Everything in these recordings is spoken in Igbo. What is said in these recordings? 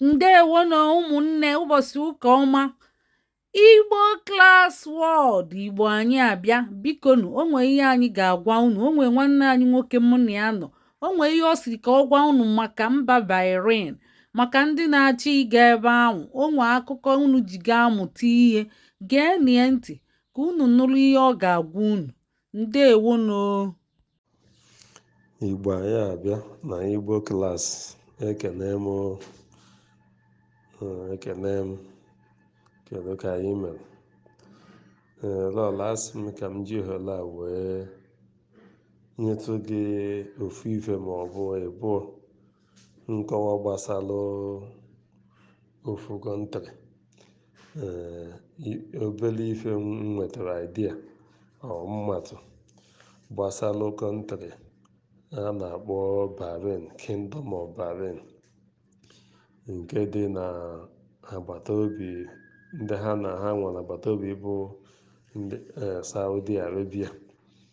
ndewo nụ ụmụnne ụbọchị ụka ọma igbo Class World igbo anyị abịa bikonụ o nwe ihe anyị ga-agwa unu o nwe nwanne anyị nwoke mụ na ya nọ o nwe ihe ọ sịrị ka ọ gwa unu maka mba Bahrain maka ndị na-achọ ịga ebe ahụ o nwe akụkọ unu ji ga-amụta ihe geenie ntị ka unu nụrụ ihe ọ ga-agwa unu ndewonụ Igbo anyị abịa na Igbo Class ekene m o. Ee, ekene m kedu ka anyị mere ee lọla asị m ka m ji ohere a wee nyetụ gị ofu ife ma ọ bụ ịbụọ nkọwa gbasalụ ofu country ee i- obele ife m nwetara idea o m matụ gbasalụ country a na-akpọ Bahrain Kingdom of Bahrain nke dị na agbata obi ndị ha na ha nwere agbata obi bụ ndị eh, Saudi Arabia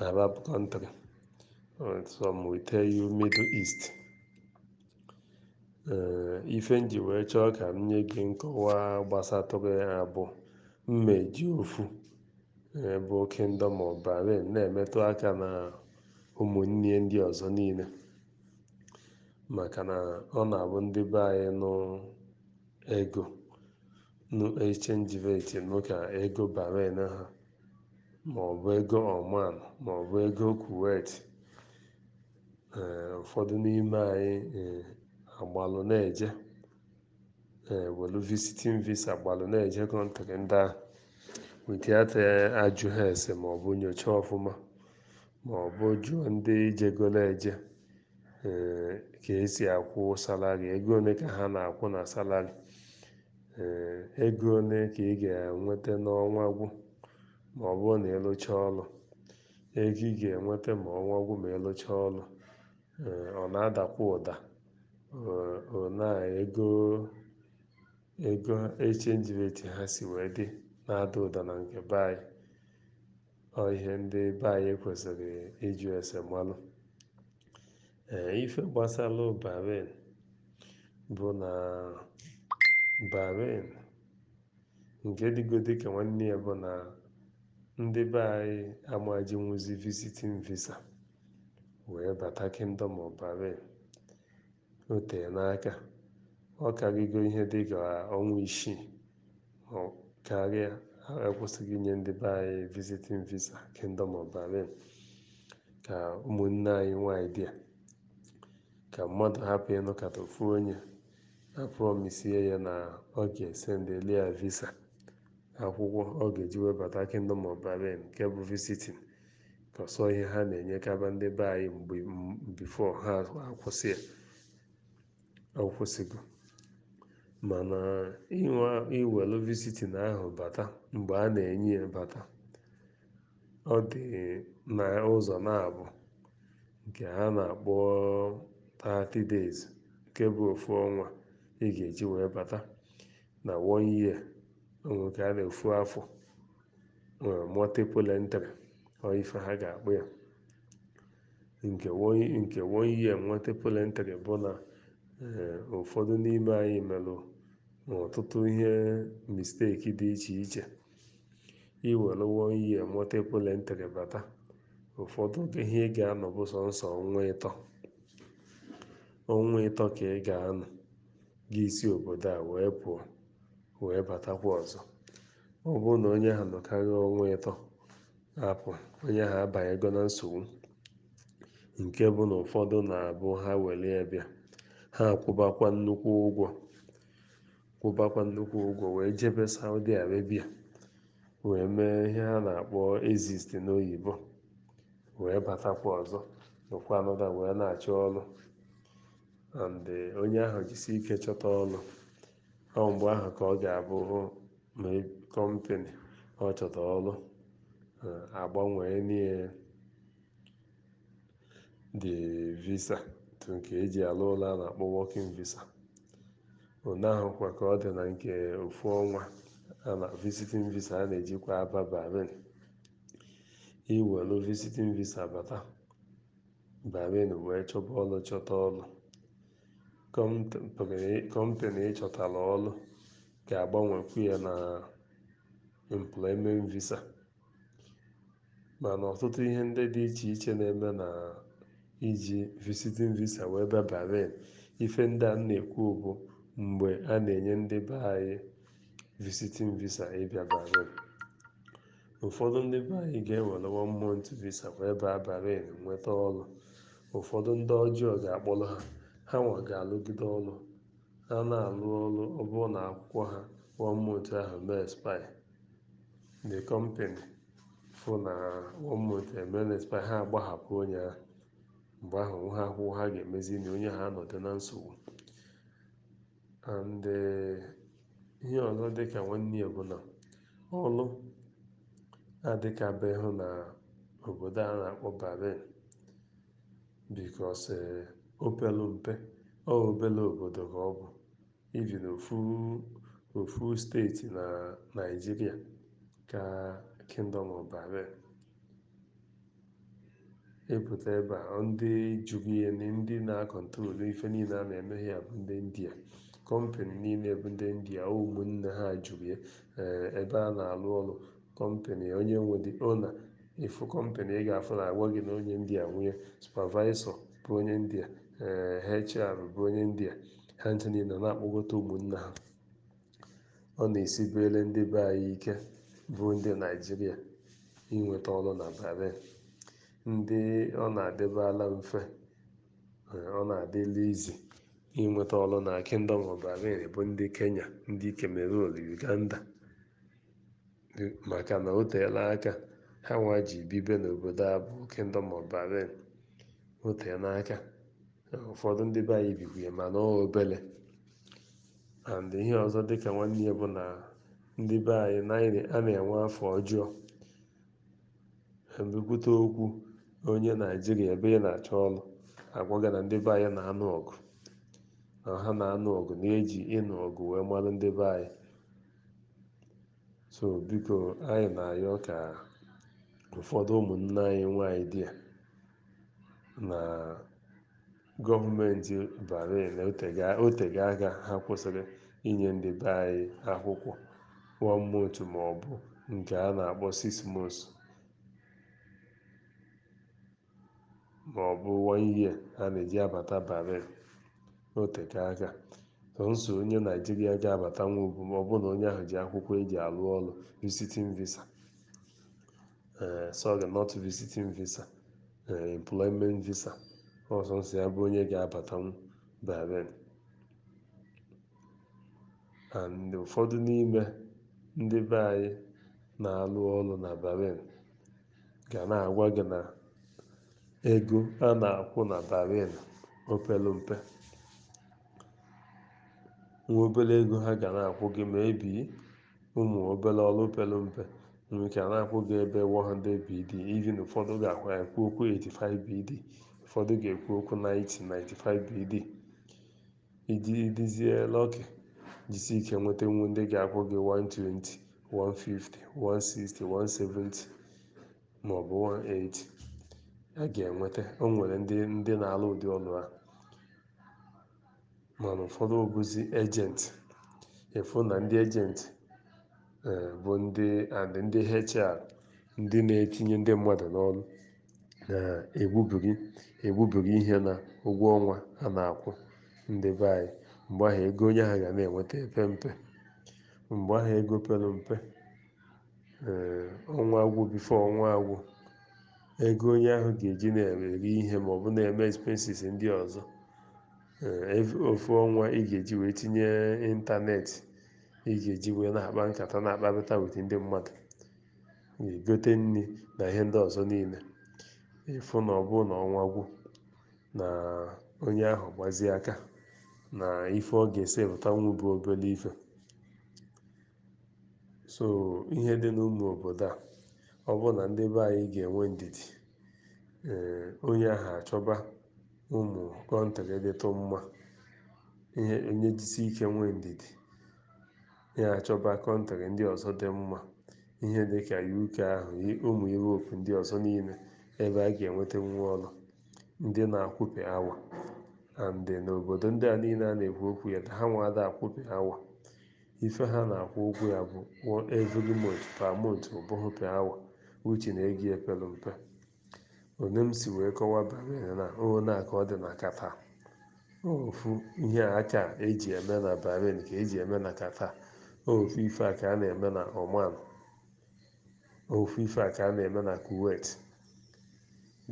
Arab country and some will tell you Middle East Eh, ife m ji wee chọọ ka m nye gị nkọwa gbasatụrụ ya bụ mmeji ofu eh, bụ Kingdom of Bahrain na-emetụ aka na ụmụnne ya ndị ọzọ niile maka na ọ na-abụ ndị be anyị nụ ego nụ exchange rate nụ ka ego Bahrain ha ma ọ bụ ego Oman ma ọ bụ ego Kuwait ee ụfọdụ n'ime anyị ee agbalụ na-eje ee welu visiting visa gbalụ na-eje country ndị ahụ without ajụha ese ma ọ bụ nyocha ọfụma ma ọ bụ jụọ ndị jegolo eje ee ka e si akwụ salary ego one ka ha na-akwụ na salary Ee, ego one ka ị ga-enweta n'ọnwa gwụ ma ọ bụrụ na ị lụchaa ọrụ? Ego ị ga-enweta ma ọnwa gwụ ma ị lụchaa ọrụ, ee, ọ na-adakwa ụda. Ee, ọ na ego ego exchange rate ha si wee dị na-ada ụda na nke be anyị? ọ ihe ndị be anyị kwesịrị ịjụ ese malụ ee ife gbasara Bahrain bụ na Bahrain nke dịgodi ka nwanne ya bụ na ndị be anyị ama ejinwuzi visiting visa wee bata kingdom of Bahrain O teena aka, ọ karịgo ihe dị ka ọnwa isii ma ọ karịa a kwụsịrị inye ndị be anyị visiting visa Kingdom of Bahrain ka ụmụnne anyị nwaanyị bịa ka mmadụ hapụ ịnụkata ofu onye aprọmisie ya na ọ ga-esendeli ya visa akwụkwọ ọ ga-eji wee bata Kingdom of Bahrain nke bụ visiting ọ sọ ihe ha na-enyekaba ndị be anyị mgbe before ha akwụsị ya a kwụsịgo mana i we i welu visiting ahụ bata mgbe a na-enye ya bata ọ dị na ụzọ naabọ nke ha na-akpọ 30 days nke bụ ofu ọnwa ị ga-eji wee bata na one year ọ nke a na ofu afọ nwere multiple entry ọ ife ha ga-akpọ ya nke one nke one year multiple entry bụ na eh, ụfọdụ n'ime anyị melu ọtụtụ ihe mistake dị iche iche i were one year multiple entry bata ụfọdụ ihe ị ga-anọ bụ sọnsọ ọnwa ịtọ ọnwa ịtọ ka ị ga-anọ gị esi obodo a wee pụọ wee batakwa ọzọ Ọ bụrụ na onye ahụ nọkarịa ọnwa ịtọ apụ, onye ahụ abanyego na nsogbu nke bụ na ụfọdụ na-abụ ha were ya bịa ha akwụbakwa nnukwu ụgwọ kwụbakwa nnukwu ụgwọ wee jebe Saudi Arabia wee mee ihe ha na-akpọ exit n'oyibo wee batakwa ọzọ nọkwa another wee na-achọ ọrụ and onye ahụ jisi ike chọta ọrụ ọ mgbe ahụ ka ọ ga-abụ ma company ọ chọta ọrụ agbanwee nie the visa to nke e ji alụ ọlụ a na-akpọ working visa ụna ahụ kwa ka ọ dị na nke ofu ọnwa na visiting visa a na-ejikwa aba Bahrain i welu visiting visa bata Bahrain wee chọba ọrụ chọta ọrụ Company ị chọtara ọrụ ga-agbanwekwu ya na employment visa mana ọtụtụ ihe ndị dị iche iche na-eme na iji visiting visa wee bịa Bahrain ife ndị a na-ekwu bụ mgbe a na-enye ndị be anyị visiting visa ịbịa Bahrain Ụfọdụ ndị be anyị ga-ewere one month visa wee baa Bahrain nweta ọlụ. Ụfọdụ ndị ọjọọ ga-akpọrọ ha, ha nwa ga-alụgide ọlụ. Ha na-alụ ọlụ ọ bụrụ na akwụkwọ ha one month ahụ mee expire. The company fụ na one month emee expire, ha agbahapụ onye ahụ. Mgbe ahụ o nweha akwụkwọ ha ga-emezi na onye ahụ anọdụ na nsogbu. And ihe ọzọ dị ka nwanne ya bụ na ọlụ adịkabeghị na obodo a na-akpọ Bahrain because o pelu mpe, ọ obele obodo ka ọ bụ even ofu steeti na Naịjirịa ka Kingdom of Bahrain. ịpụta ebe a ndị juru ya na ndị na-akọntrol ife niile a na-eme ya bụ ndị india kọmpanị niile bụ ndị india ụmụnne ha juru ya ee, ebe a na-alụ ọrụ kọmpanị onye nwe the owner ị fụ kọmpanị ị ga-afụ na a gwa gị na onye india nwe ya supavaisọ bụ onye india ee, hr bụ onye india ha ncha niile na-akpọkọta ụmụnne ha ọ na-esibere ndị be anyị ike bụ ndị naijiria inweta ọrụ na bahrain ndị ọ na-adịbala mfe eh, ọ na-adịla easy inweta ọrụ na kingdom of bahrain bụ ndị kenya ndị cameroon uganda maka na o teela aka ha nwa ji bibe n'obodo a bụ Kingdom of Bahrain o teela aka ụfọdụ ndị be anyị bikwu ya mana ọ obele and ihe ọzọ dịka nwanne ya bụ na ndị be anyị a na-enwe afa ọjọọ e bukwute okwu onye naijiria ebe ị na-achọ ọrụ a gwa gị na ndị be anyị na-anụ ọgụ na ha na-anụ ọgụ na e ji ịnụ ọgụ wee mara ndị be anyị so biko anyị na-ayọ ka ụfọdụ ụmụnne anyị nwaanyị dị ya na gọọmenti Bahrain o tega aka ha kwụsịrị inye ndị be anyị akwụkwọ one month ma ọ bụ nke a na-akpọ six months ma ọ bụ one year a na-eji abata Bahrain na o teka aka sọnsọ onye Naijiria ga-abatanwu bụ ma ọ bụ na onye ahụ ji akwụkwọ e ji alụ ọlụ visiting visa ee sorry not visiting visa ee employment visa ọ sọnsọ ya bụ onye ga-abatanwu Bahrain and ụfọdụ n'ime ndị be anyị na-alụ ọrụ na Bahrain ga na-agwa gị na ego a na-akwụ na Bahrain o pelu mpe nwa obere ego ha ga na-akwụ gị maybe ụmụ obere ọrụ pelu mpe nwere ike a na-akwụ gị ebe 100 BD even ụfọdụ ga-akwụ ekwu okwu 85 BD ụfọdụ ga-ekwu okwu 90 95 BD Ị dị ị dịzie lọkị, jisi ike nwetanwu ndị ga-akwụ gị 120, 150, 160, 170 ma ọ bụ 180. A ga-enweta o nwere ndị ndị na-alụ ụdị ọlụ a mana ụfọdụ bụzi ejenti ị fụ na ndị ejenti eh, bụ ndị and ndị HR ndị na-etinye ndị mmadụ n'ọrụ na-egbubi egbubiri ihe na ụgwọ ọnwa a na-akwụ ndị be anyị mgbe ahụ ego onye ahụ ga na-enweta epe mpe mgbe ahụ ego pelu mpe ee ọnwa agwụ bifo ọnwa agwụ ego onye ahụ ga-eji na-eri ihe ma ọ bụ na-eme expenses ndị ọzọ ee ev- ofu ọnwa ị ga-eji wee tinye ịntanetị ị ga-eji wee na-akpa nkata na-akparịta with ndị mmadụ na-egote nri na ihe ndị ọzọ niile ị fụ na ọ bụrụ na ọnwa gwụ na onye ahụ gbazie aka na ife ọ ga-esi pụtanwu bụ obere ife so ihe dị n'ụmụ obodo a ọ bụrụ na ndị be anyị ga-enwe ndidi ee onye ahụ achọba ụmụ kọntrị dịtụ mma ee onye jisi ike nwee ndidi ya achọba kọntrị ndị ọzọ dị mma ihe dị ka UK ahụ i- ụmụ Europe ndị ọzọ niile ebe a ga-enweta nwa ọrụ ndị na-akwụ per hour and n'obodo ndị a niile a na-ekwu okwu ya ha nwa ada akwụ per hour ife ha na-akwụ ụgwọ ya bụ one- every month per month ọ bụghị per hour which na ego ya pelu mpe one m si wee kọwa bahrain na one a ka ọ dị na qatar ofu ihe a ka e ji eme na bahrain ka e ji eme na qatar ofu ife a ka a na-eme na oman ofu ife a ka a na-eme na kuwait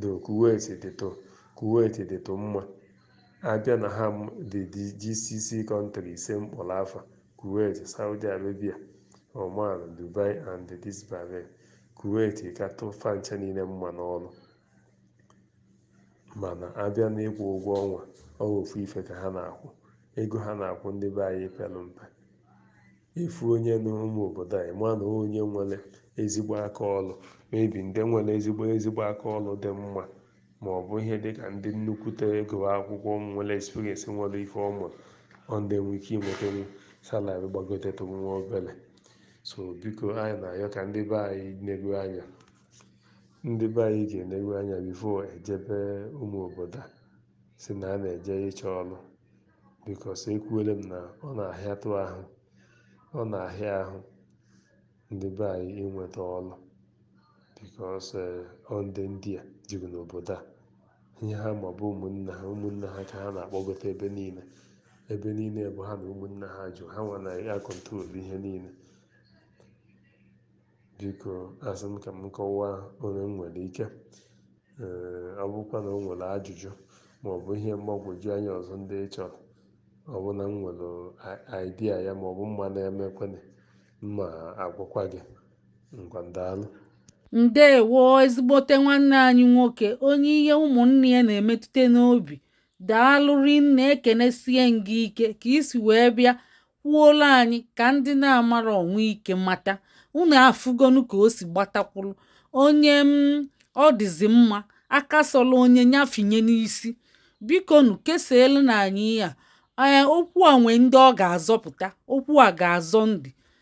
though kuwait dịtụ kuwait dịtụ mma a bịa na ha dị dị gcc kọntrị ise m kpọrọ afa kuwait saudi arabia oman dubai and this bahrain Kuwait katụ fa ncha niile mma n'ọlụ mana a bịa n'ịkwụ ụgwọ ọnwa ọ bụ ofu ife ka ha na-akwụ ego ha na-akwụ ndị be anyị pelu mpe ị fụ onye n'ụmụ obodo a ị ma na onye nwere ezigbo aka ọrụ maybe ndị nwere ezigbo ezigbo aka ọrụ dị mma ma ọ bụ ihe dị ka ndị nnukwute agụọ akwụkwọ nwere experience nwere ife ọ mụrụ ọ ndị nwere ike inwetanwu salari gbagotetụ nwa obere so biko anyị na-ayọ ka ndị be anyị negwu anya ndị be anyị ga-enegwu anya before ejebe ụmụ obodo a sị na a na-eje ịchọ ọlụ because ekwuole m na ọ na-ahịatụ ahụ ọ na-ahịa ahụ ndị be anyị inweta ọlụ because ọ ndị ndị a juru n'obodo a ihe ha ma bụ ụmụnne ha, ụmụnne ha ka ha na-akpọgota ebe niile. Ebe niile bụ ha na ụmụnne ha ju, ha nwa na-acontrol ihe niile. Biko, asị m ka m kọwaa ole m nwere ike. Ee, ọ bụkwa na o nwere ajụjụ ma ọ bụ ihe mgbagwoju anya ọzọ ndị ị chọrọ, ọ bụ na m nwere idea ya ma ọ bụ m ma na-emekwanị, m ma agwakwa gị. ndewo ezigbote nwanne anyị nwoke onye ihe ụmụnne ya na-emetụta n'obi daalụ rinne ekenesie gị ike ka i si wee bịa kwuola anyị ka ndị na-amarọ nwee ike mata unu afụgonu ka o si gbata kwụrụ onye m mm, ọ dịzi mma aka sọla onye nya finye n'isi bikonu kesaelụ nụ anyị ya ee okwu a nwee ndị ọ ga-azọpụta okwu a ga-azọ ndị